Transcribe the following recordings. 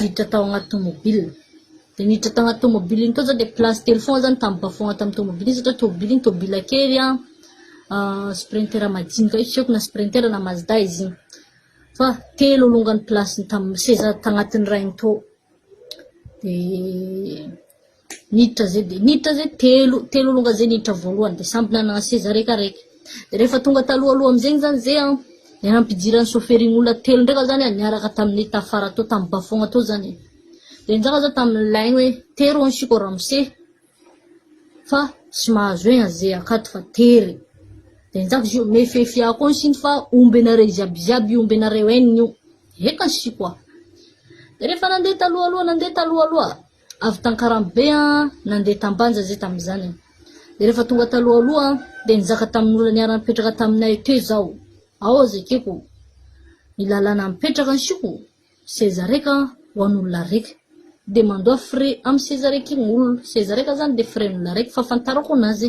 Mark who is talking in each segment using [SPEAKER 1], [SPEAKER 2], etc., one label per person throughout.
[SPEAKER 1] Niditra tao agnaty tomobile. De niditra tao agnaty tomobile igny tao zah de place telo fogna zah nitamboka fogna tamin'ny tomobile igny satria tomobile igny tomobile kely an, ah, sprinter madinika io tsy haiko na sprinter na mazda izy igny. Fa telo alongany place tam- seza tagnatin'ny rainy tao. De. Niditra zay dia niditra zay telo telo longa zay niditra voalohany dia samby nanana seza reka reka dia rehefa tonga taloha aloha amin'izegny zany zay an ny anam-pidiran'ny chauffeurin' olona telo ndraika zany an niaraka tamin'ny tafara tao tamin'ny bafogna tao zany e dia nizaka zao tamin'ny laigny hoe tery hono siko ramose fa tsy mahazo egna zay akato fa tery dia nizaka izy io mefefy ahy koa siny fa omby anareo ziaby ziaby io omby anareo enina io eka siko a dia rehefa nandeha taloha aloha nandeha taloha aloha Avy t'Ankaramobe an, nandeha t'Ambanja zay tamin'izany an. Dia rehefa tonga talohaloha an, dia nizaka tamin'olona niara-nipetraka taminay teo izaho. Ao aza ekeko ny lalàna mipetraka ansioko seza raika ho an'olona raika. Dia mandoa frais amin'ny seza raika iny olona. Seza raika zany dia frais an'olona raika, fahafantarako anazy.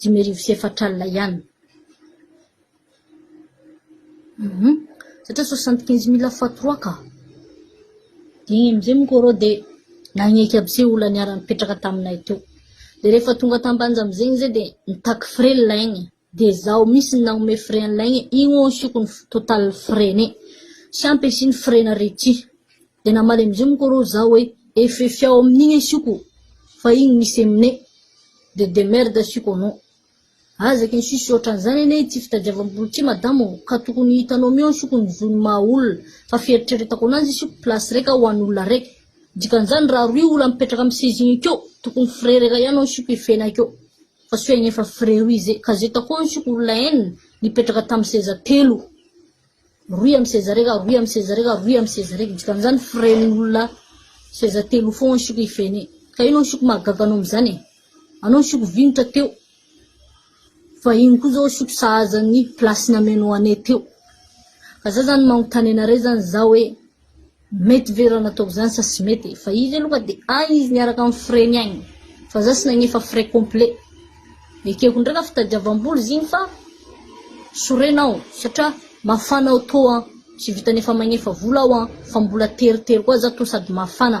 [SPEAKER 1] Dimy arivo sy efatra alina ihany. Hum satria soixante quinze mille fois trois ka. Dia iny amin'izay moa reo dia nagneky aby se olona niara-nipetraka taminay teo. Dia rehefa tonga tam-banja amin'izay izy dia nitaky frais ny laigny. Dia zaho mihintsy no nanome frais an'ny laigny, igny hono asiako ny f- total frais-ny. Tsy ampy asiany frais-na r'ity. De namaly amizio moko ro za hoe efefy ao amin'igny asioko fa igny misy aminay de demerde asioko anao. Aza ken sisy ohatran'izany anie ity fitadiavam-bolo ity madama o, ka tokony hitanao mihitsy asioko ny zon'ny maha olona fa fieritreretako anazy asiako place raika ho an'olona araiky. Dikan'izany raha roy olona mipetraka amin'ny seza igny akeo tokony frais raika ihany no asiako efena akeo fa soa egny efa frais roy zay ka zay takao asiako olona enina nipetraka tamin'ny seza telo. Rohy amin'ny seza reka, rohy amin'ny seza reka, rohy amin'ny seza reka, dikan'izany frais-n'olona seza telo ho foana siko ifene. Ka inona ny siko mahagaga anao amin'izany e? Anao ny siko vinitra teo, fa iny koa zao siko sahaza ny place-ny ameno anay teo. Ka za zany manontany anareo zany za hoe. Mety ve raha nataoko zany sa tsy mety e? Fa izy aloha dia agny izy miaraka amin'ny frais-ny agny. Fa za tsy nagnefa frais complet. Ekeko ndray raha fitadiavam-bola izy igny fa sorena aho satria mafana aho tô an. Tsy vitan'ny efa magnefa vola aho an fa mbola teritery koa za tô sady mafana.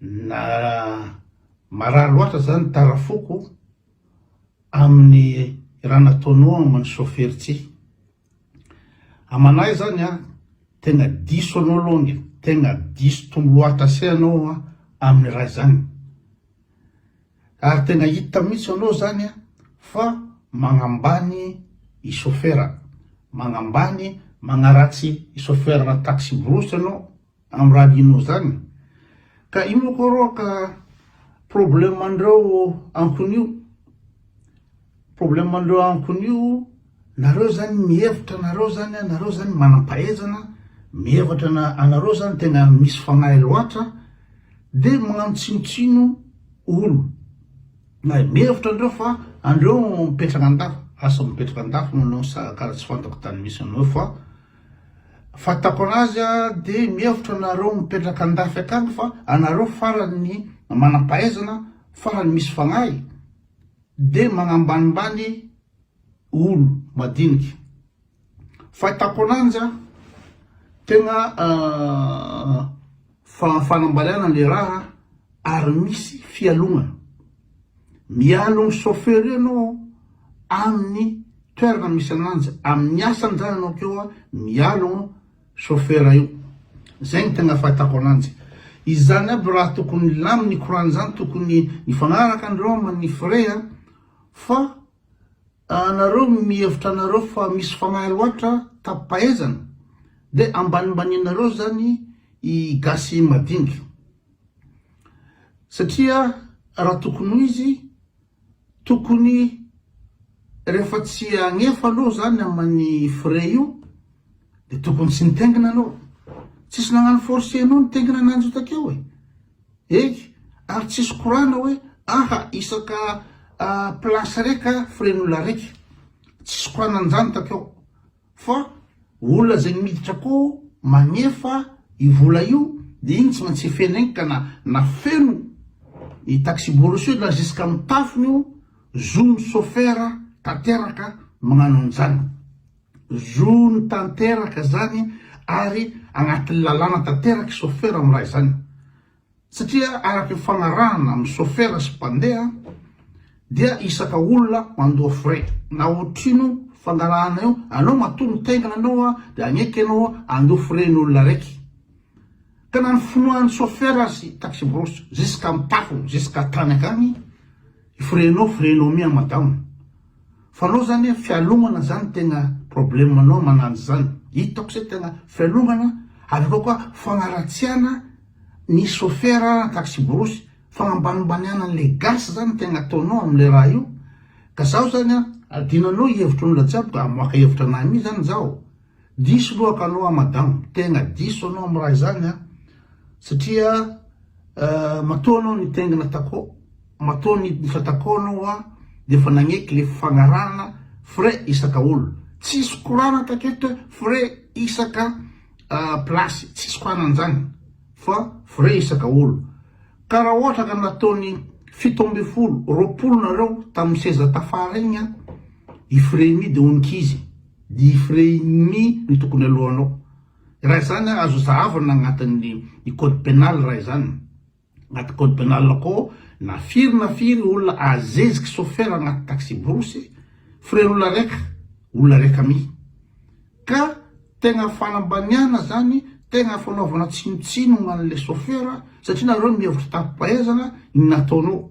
[SPEAKER 2] Na marary loatra zany ny tara foko aminy raha nataonao aminy sofera ity. Amanay zany a tegna diso anao longy tegna diso tombo loata se anao a aminy raha zany. Ary tegna hita mitsy anao zany a fa magnambany i sofera, magnambany magnaratsy i sofera na taxi brousse anao. Am raha adinonao zany ka ino ko rô ka problème andreo ankonio problème andreo ankonio nareo zany mihevitra nareo zany nareo zany manampahaizana mihevatra na anareo zany tena misy fanahy loatra de magnano tsinotsino olo na mihevitra andreo fa andreo mipetraka andafy asa mipetraka andafy manao sa kara tsy fantako tany misy anao fa Fahitako anazy a de mihevitra nareo mipetraka andafy akany fa anareo farany ny manampahaizana farany misy fagnahy de magnambanimbany olo madiniky fahitako ananjy a tegna Fa fanambaliana le raha ary misy fialogana. Mialo ny chauffeur ianao aminy toerana misy ananjy aminy asany zany ianao keo a mialo an chauffeur io. Zay no tegna fahatako ananjy. Izany aby raha tokony hilaminy korany zany tokony hifagnaraka andreo aminy frais a fa. Anareo mihevitra anareo fa misy fanahy loatra tapaezana dia ambanimbaninareo zany i gasy madinika satria raha tokony ho izy tokony rehefa tsy agnefa aloha zany amany frais io dia tokony tsy nitengina anao tsisy nagnano force anao nitengina ananjy io takeo e. Hey! ary tsisy korana hoe aha isaka place reka firen'olona reka, tsisy korana an'izany takeo fa olona zay miditra akao magnefa io vola io dia iny tsy maintsy efena iny ka na na feno ny taxi-bourse io na jusqu'à amin'ny tafony io, zony chauffeur tanteraka magnano an'izany. Zony tanteraka zany ary agnatin'ny lalàna tanteraka chauffeur am raha izany satria araka ny fagnarahana am chauffeur sy mpandeha dia isaka olona mandoa frais na otrino fangarahana io anao matoa mitaingina anao a dia agneky anao andoa frais ny olona raiky ka na ny finoan'ny chauffeur azy taxi brousse jusqu'am tafo jusqu'à tany akagny frais nao frais nao mi a madama Fa anao zany a fialomana zany tegna problème anao manano zany hitako se tegna fialomana avy akao koa fagnaratsiana ny chauffeur na taxi-borosy fagnambanimbaniana anle gasy zany tegna ataonao amle raha io ka zaho zany a adinonao hevitronla jiaby ka amoaka hevitra anah mi zany zaho Diso lohaka anao an madame, tena diso anao amin'ny raha izany an, satria matoa anao nitaingina Taco, matoa niditra Taco anao an, dia efa nagneky le fagnarahana frais isaka olona, tsisy korana taketo hoe frais isaka place, tsisy korana an'izany fa frais isaka olona, ka raha ohatra ka nataony fito ambin'ny folo, roapolo nareo tamin'ny seza tafara igny an, i frais-ny dia onik'izy. Ny frein-ny no tokony alohanao. Raha izany ary azo zahavina agnatin'ny ny code pénal raha izany. Agnaty code pénal akao na firy na firy olona azeziky chauffeur agnaty taxi-borosy, frein-olona raika, olona raika mi. Ka tegna fanambaniagna zany, tegna fanaovana tsinontsinogna an'le chauffeur satria nareo mihevitra an-tapom-pahaizagna ny nataonao.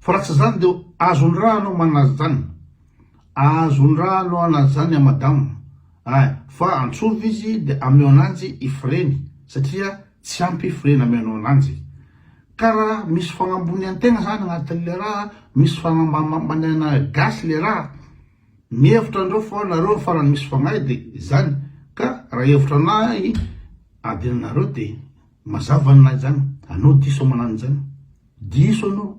[SPEAKER 2] Fa raha tsy izany dia azon-draha anao manaja izany. Azon-draha anao hanaja izany an madama a! Fa antsovy izy dia ameo ananjy i freny satria tsy ampy freny ameanao ananjy. Ka raha misy fagnambonian-tegna izany agnatin'ilay raha, misy fagnambaniana gasy ilay raha, mihevitra andreo fa nareo farany misy fagnahy dia izany. Ka raha hevitra anahy adinonareo dia Mazava ny lahy zany, anao diso manano izany, diso anao.